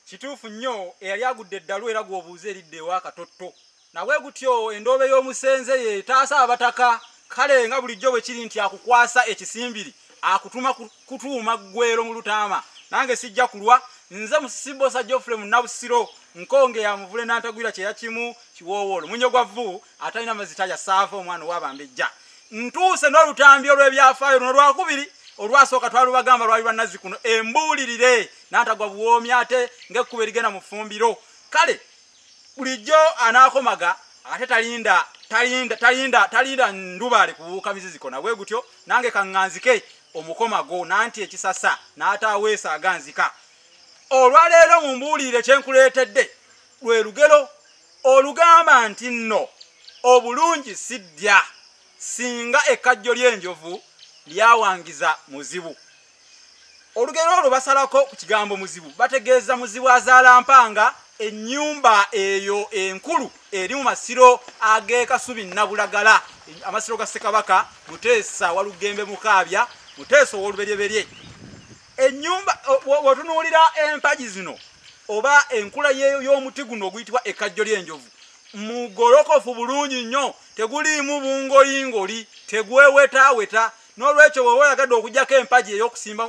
kituufu nnyo eyali agudde eddalu era gw'obuuza eridde ewa katotto nabwe gutyo endoobe y'omusenze ye etaasa abataka kale nga bulijjo bwe kiri nti akukwasa ekisimbiri akutuma kutuuma ggwero mu lutaama nange sijja kulwa nze musibosa geoffrey munabusiro nkonge ya muvule nantagwira kyeya kimu kiwoowoolo munyo gwa vvu atalina mazita yasaava omwana owabambejja ntuuse n'olutambi olw'ebyafaayo luno lwakubiri olwasooka twalubagamba lwali lwa nazzi kuno embuulirire nantagwa buwoomi ate ngekkuba erigenda mu ffumbiro kale bulijjo anaakomaga ate talinda talinda talinda talinda ndubaale kubuuka miziziko nabwe gutyo nange kaŋŋanzike omukomago nanti ekisasa n'ataaweesa aganzika olwaleero mu mbuulire kye nkuleetedde lwe lugero olugamba nti nno obulungi siddya singa ekkajjo ly'enjovu lyawangiza muzibu olugero olwo basalako ku kigambo muzibu bategeeza muzibu azaala mpanga ennyumba eyo enkulu eri mu masiro ag'ekasubi nabulagala amasiro ga ssekabaka muteesa walugembe mukaabya muteesa ow'oluberyeberye ennyumba wetunuulira empagi zino oba enkula y'omuti guno oguyitibwa ekkajjo ly'enjovu mugolokofu bulungi nnyo teguliimu bungoyingoli tegwewetaaweta n'olwekyo woba oyagadde okujjako empagi ey'okusimba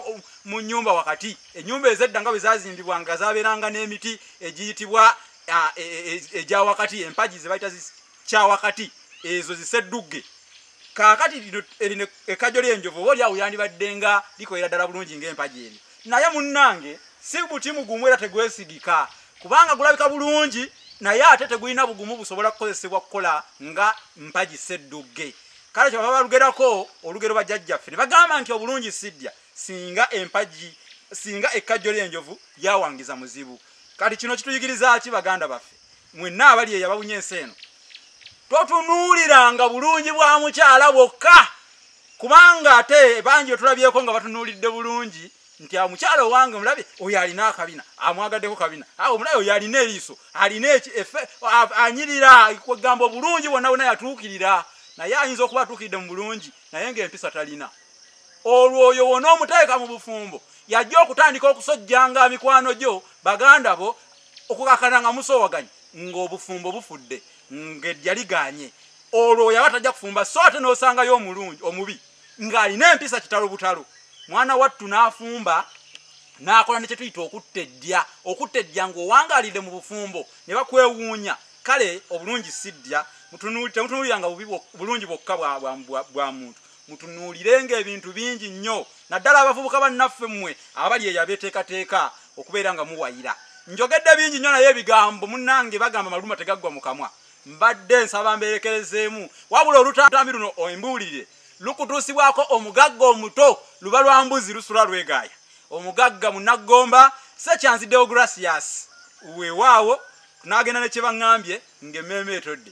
mu nyumba wakati enyumba ezedda nga bwe zazimbibwa nga zabeeranga n'emiti egiyitibwa e, e, egya wakati empagi zebayita kya wakati ezo ziseddugge kakati erino ekajjo lyenjovu oba olyawo yandibadde nga likolera ddala bulungi ngaempagi ebyo naye munnange si buti mugumu era tegwesigika kubanga gulabika bulungi naye ate tegulina bugumu busobola kukozesebwa kukola nga mpagi seddugge kale kyova balugerako olugero bajjajjaffe ne bagamba nti obulungi siddya singa empagi singa ekkajjo ly'enjovu lyawangiza muzibu kati kino kituyigiriza ki baganda baffe mwenna abali eyo abawunya ensi eno totunuuliranga bulungi bwa mukyala bwokka kubanga ate bangi wetulabyeko nga batunuulidde bulungi nti amukyala ah, owange omulabe oyo alina akabina amwagaddeko kabina ah, omulabe oyo alina eriiso alina eki efe anyirira kwegamba obulungi bwonna bwona yatuukirira naye ayinza okuba atuukiridde mu bulungi naye ngaempisa talina olwo oyo wona omuteeka mu bufumbo yajja okutandika okusojjanga mikwano gyo baganda bo okukakana nga musowaganyi ngaobufumbo bufudde ngejja liganye olwo oyo aba tajja kufumba so ate nosangayo omulungi omubi ng'alina empisa kitalo butalo mwana wattu n'afumba n'akola ne kyetuyita okutta eddya okutta eddya ng'owangaalidde mu bufumbo ne bakwewuunya kale obulungi si ddya temutunuuliranga bulungi bwokka bwa muntu mutunuulirenga ebintu bingi nnyo naddala abavubuka bannaffe mmwe abali eyo abeeteekateeka okubeera nga muwayira njogedde bingi nnyo naye ebigambo munnange bagamba maluma tegaggwa mu kamwa mbadde nsaba mberekerezeemu wabula olutambi luno embuulire lukutuusibwako omugagga omuto luba lwa mbuzi lusula lwegaaya omugagga munaggomba sekyanzi deogratias wewaawo n'agenda ne kye baŋŋambye ng'emmeeme etodde